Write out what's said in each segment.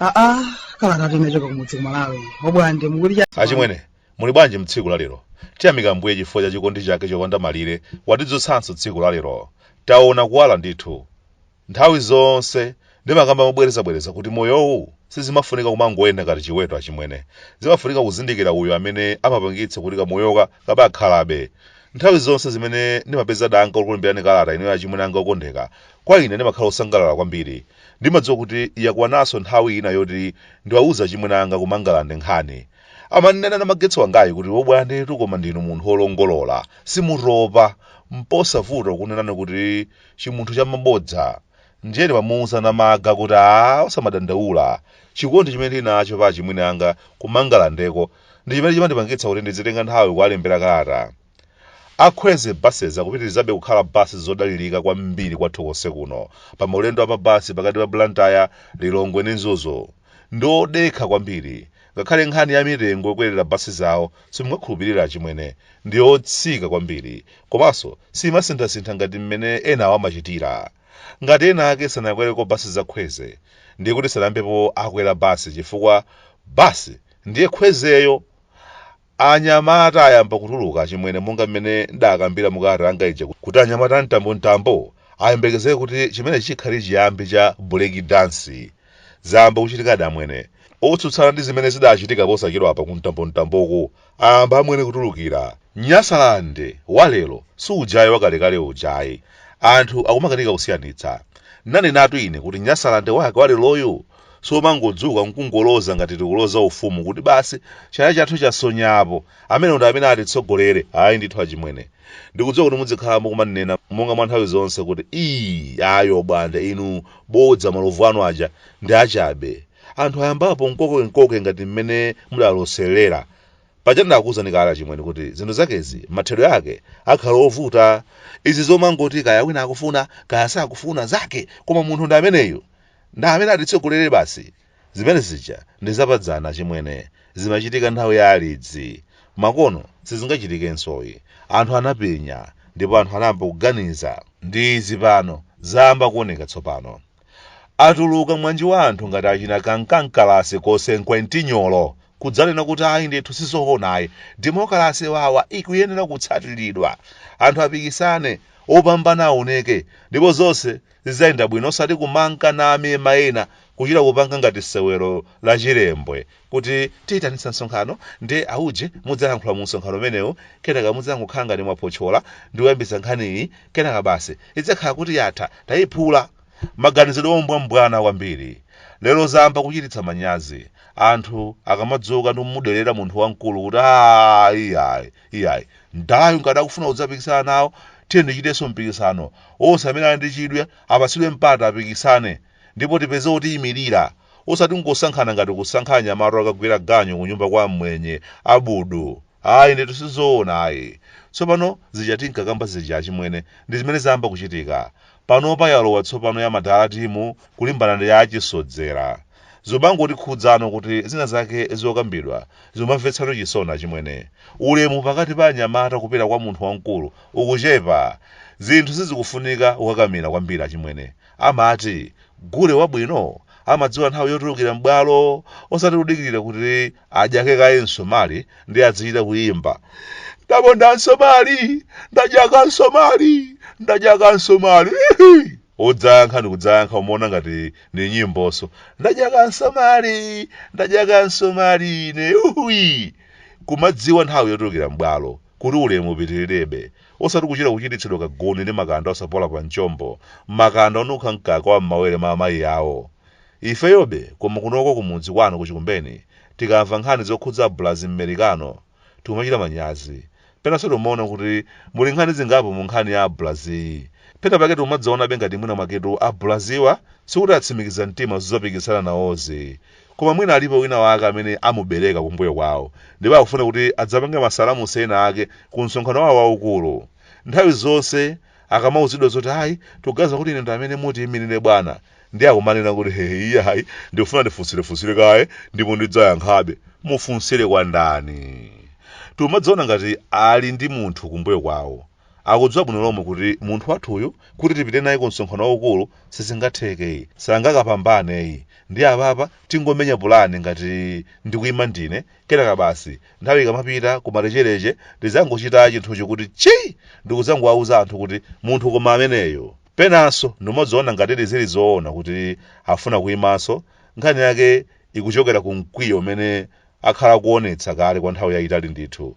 aa kalata tinachoka kumudzi kumalawi obwande mukuti cha achimwene muli bwanji mtsiku la lero tiyamika mbuye chifukwa cha chikondi chake chopanda malire watidzutsanso tsiku la lero taona kuwala ndithu Nthawi zonse ndimakamba mobwerezabwereza kuti moyowu sizimafunika kumangoyenda ngati chiweto achimwene. Zimafunika kuzindikira uyo amene amapangitsa kuti kamoyoka kabakhalabe. Nthawi zonse zimene ndimapeza danga lokulembirani kalata inuyo achimwene anga okondeka, kwa ine ndimakhala osangalala kwambiri. Ndimadziwa kuti yakwananso nthawi ina yoti ndiwauze achimwene anga ku Mangalande nkhani. Amandinena namagetsi wangayu kuti obwandetu koma ndinu munthu olongolola, simutopa, mposavuta kukunenani kuti. chimunthu cha mabodza ndiye ndimamuuza namaga kuti aa osamadandaula chikondi chimene ndili nacho pa achimwene anga kumangalandeko ndi chimene chimandipangitsa kuti ndizitenga nthawi kuwalembera kalata a kwezy buses akupitirizabe kukhala basi zodalirika kwambiri kwathu konse kuno pa maulendo a mabasi pakati pa blantyre lilongwe ndi mzuzu ndi odekha kwambiri Ngakhale nkhani ya mitengo yokwerera basi zawo simungakhulupirire achimwene. Ndiyotsika kwambiri. Komanso siyimasinthasintha ngati mmene enawo amachitira. Ngati ena ake sanakwereko basi za Kwezy, ndiye kuti sanayambepo akwera basi chifukwa basi ndiye Kwezy yo! Anyamata ayamba kutuluka achimwene monga mmene ndakambira mu kalata yanga ija kuti anyamata a Mtambo Mtambo ayembekezere kuti chimenechi chikhale chiyambi cha break dance. Zayamba kuchitikadi amwene. Otsutsana ndi zimene zidachitika posachedwapa ku Mtambo Mtamboku ayamba amwene kutulukira. Nyasaland wa lero si ujayu wa kalekale uja ayi. Anthu akumakanika kusiyanitsa. Ndanenatu ine kuti Nyasaland wake wa leroyu si omangodzuka nkungoloza ngati tikuloza ufumu kuti basi chala chathu chasonya apo amenewo ndi amene atitsogolere ayi ndithu achimwene ndikudziwa kuti mudzikhala mukumandinena monga mwa nthawi zonse kuti ii ayi obwande inu bodza malovu anu aja ndi achabe anthu ayambapo mkokemkoke ngati mmene mudaloserera paja ndakuwuzani kale achimwene kuti zinthu zakezi mathedwe ake akhala ovuta izi zomangoti kaya wina akufuna kaya sakufuna zake koma munthu ndi ameneyu Nda amene atitsogolere basi? Zimene zija ndi zapadzana achimwene. Zimachitika nthawi ya alidzi. Makono sizingachitikensoyi. Anthu anapenya ndipo anthu anayamba kuganiza. Ndi izi pano zayamba kuoneka tsopano. Atuluka mwanji wa anthu ngati achina Kankankalasi Kosenkwentinyolo kudzanena kuti ayi ndithu sizoona ayi, demokalase wawa ikuyenera kutsatiridwa. Anthu apikisane, opambana aoneke ndipo zonse Zidzayenda bwino osati kumanka namemana kuchita kupanga ngati sewero la chilembwe kuti tiyitanitsa msonkhano ndiye auje mudzalankhula mu msonkhano umenewu kenaka mudzangokhala ngati mwaphotchola ndi kuyambitsa nkhaniyi kenaka basi idzakhala kuti yatha tayiphula. Maganizidwe ombwambwana kwambiri. Lero zayamba kuchititsa manyazi. Anthu akamadzuka ndi kumudelera munthu wamkulu kuti aah iyayi. Iyayi, mdalayu ngati akufuna kudzapikisana nawo, tiyeni tichitenso mpikisano. Onse amene ali ndi chidwi apatsidwe mpata apikisane ndipo tipeze otiyimirira osati kungosankhana ngati kusankha anyamata okagwira ganyu kunyumba kwa mmwenye, abudu. Ayi ndithu sizoona ayi. Tsopano zija tinkakamba zija achimwene ndi zimene zayamba kuchitika. panopa yalowa tsopano ya madala timu kulimbana ndi ya achisodzera zomangotikhudza kuti zina zake zokambidwa zomamvetsatu chisoni achimwene ulemu pakati pa anyamata kupita kwa munthu wamkulu ukuchepa zinthu sizikufunika kukakamira kwambiri achimwene amati gule wabwino amadziwa nthawi yotulukira m'bwalo osati kudikirira kuti adyake kaye msomali ndi adzichita kuyimba ndaponda msomali ndadyaka msomali ndadyaka msomali Ihi! odzayankha ndi kudzayankha kumaona ngati ndi nyimbonso ndadyaka msomali ndadyaka msomali ine uwi kumadziwa nthawi yotulukira m'bwalo kuti ulemu upitirirebe osati kuchita kuchititsidwa kaguni ndi makanda osapola pa mchombo makanda onukha mkaka wa m'mawere ma amayi awo Ifeyobe koma kunoko kumudzi kwanu ku Chikumbeni tikamva nkhani zokhudza Abulazi Mmerikano tikumachita manyazi. Penanso timaona kuti muli nkhani zingapo mu nkhani ya Abulaziyi. Pena pake tikumadzaonabe ngati mwina mwaketu Abulaziwa sikuti atsimikiza mtima zodzapikisana nawozi. Koma mwina alipo wina wake amene amubereka kumbuyo kwawo ndipo akufuna kuti adzapange masalamusi ena ake ku msonkhano wawo waukulu. Nthawi zonse akamauzidwa zoti ayi tikuganiza kuti inu ndi amene mutiimirire bwana, ndi akumanena kuti ee iyayi ndikufuna ndifunsirefunsire kaye ndipo ndidzayankhabe mufunsire kwa ndani tikumadziona ngati ali ndi munthu kumbuyo kwawo akudziwa bwino lomwe kuti munthu wathuyu kuti tipite naye ku msonkhano waukulu sizingathekeyi sangakapambaneyi ndiye apapa tingomenya pulani ngati ndikuyima ndine kenaka basi nthawi ikamapita kumalechereche ndidzangochita chinthucho kuti tchii ndikudzangowauza anthu kuti munthu koma ameneyo Penanso, ndimadziona ngatidi zili zoona kuti afuna kuimanso, nkhani yake ikuchokera ku mkwiyo umene akhala akuonetsa kale kwa nthawi yaitali ndithu.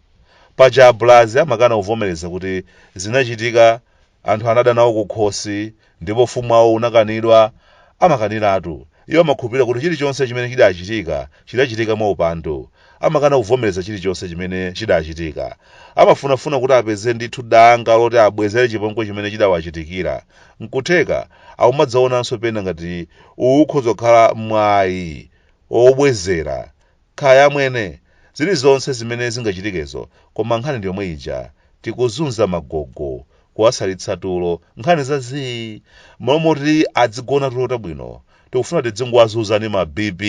Paja Abulazi amakana kuvomereza kuti zinachitika anthu anada nawo kukhosi ndipo ufumu wawo unakanidwa, amakaniratu. Iwo amakhulupirira kuti chilichonse chimene chidachitika, chidachitika mwaupandu. Amakana kuvomereza chilichonse chimene chidachitika. Amafunafuna kuti apeze ndithu danga loti abwezere chipongwe chimene chidawachitikira. Nkutheka akumadzionanso pena ngati uwu ukhoza kukhala mwayi wobwezera Kaya amwene, zilizonse zimene zingachitikezo koma nkhani ndi yomwe ija. Tikuzunza magogo, kuwasalitsa tulo, nkhani za zii! M'malo moti adzigona tulo tabwino, tikufuna tidzingowazunza ndi ma BP!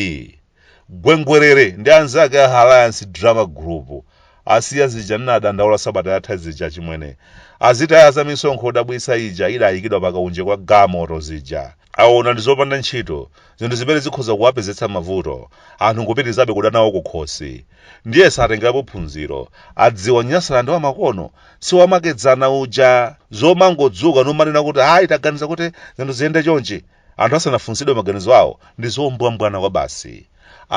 Gwengwerere ndi anzake a Alayansi Drama Group asiya zija ndinadandaula sabata yatha zija achimwene. Azitaya za misonkho yodabwitsa ija idayikidwa pa kaunje kwa galimoto zija. Aona ndi zopanda ntchito, zinthu zimene zikhoza kuwapezetsa mavuto, anthu nkupitirizabe kuda nawo kukhosi. Ndiye atengerapo phunziro, adziwa Nyasaland wamakono si wamakedzana uja! Zomangodzuka numanena kuti ayi taganiza kuti zinthu ziyende chonchi, anthu asanafunsidwe maganizo awo, ndi zombwambwana kwabasi.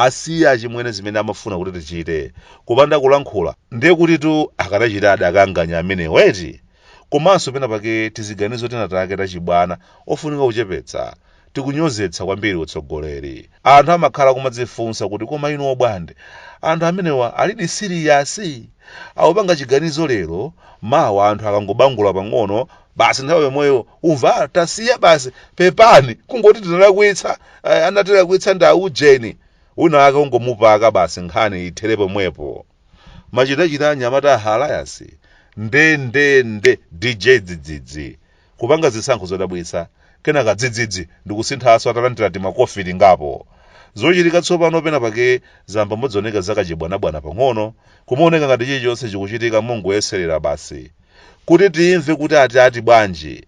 Asiya achimwene zimene amafuna kuti tichite, kupanda kulankhula, ndiye kutitu akadachita adakaanganya amenewo eti! Komanso pena pake tiziganizo tina take tachibwana ofunika kuchepetsa. Tikunyozetsa kwambiri utsogoleri. Anthu amakhala akumadzifunsa kuti koma inu obwande, anthu amenewa alidi siliyasi? Akupanga chiganizo lero, mawa anthu akangobangula pang'ono, basi nthawi yomweyo umva ah, tasiya basi, pepani, kungoti tinalakwitsa, eh, anatilakwitsa ndi aujeni. Wina wake ungomupaka basi nkhani ithere pomwepo. machitachita anyamata a Alayansi nde nde nde dj dzidzidzi kupanga zisankho zodabwitsa kenaka dzidzidzi ndi kusinthanso atalandira timakofi tingapo zochitika tsopano pena pake zayamba kudzioneka zakachibwanabwana pang'ono kumaoneka ngati chilichonse chikuchitika mongoyeserera basi kuti timve kuti ati ati bwanji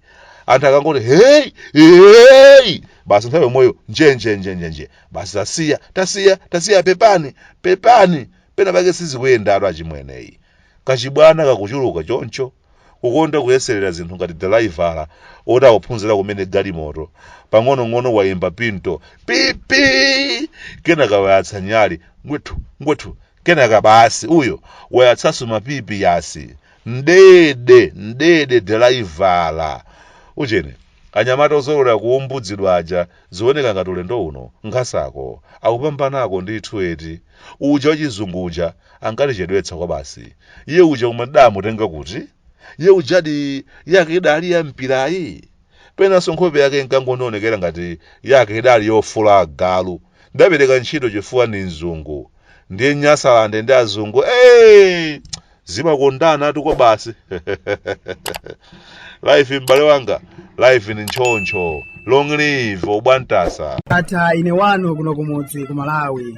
anthu akangoti heyi heyi basi nthawi yomweyo njenjenjenjenje basi tasiya tasiya tasiya pepani pepani pena pake sizikuyendatu achimwene ayi kachibwana kakuchuluka choncho kukonda kuyeserera zinthu ngati dalaivala oti akuphunzira kumene galimoto pang'onong'ono wayimba bintho pipi kenaka wayatsa nyali ngwethu ngwethu Kenaka basi uyo wayatsanso mawaipa yasi mdede mdede dalaivala ujeni anyamata ozolowera kuumbudzidwa aja zioneka ngati ulendo uno nkhasakonkhasako akupambanako ndithu eti uja wachizungu uja ankatichedwetsa kwabasi iye uja koma tidaamutenga kuti iye uja ndi yake idali ya mpirayi Penanso nkhope yake inkangondionekera ngati yake idali yofula agalu. Ndidapereka ntchito chifukwa ndi mzungu. Ndiye Nyasalande ndi azungu, ee! Zimakondana atu kobasi. Live m'bale wanga, live ndi ntchontcho. Long live obwantasa. Ndatha ine wanu kuno kumudzi ku Malawi.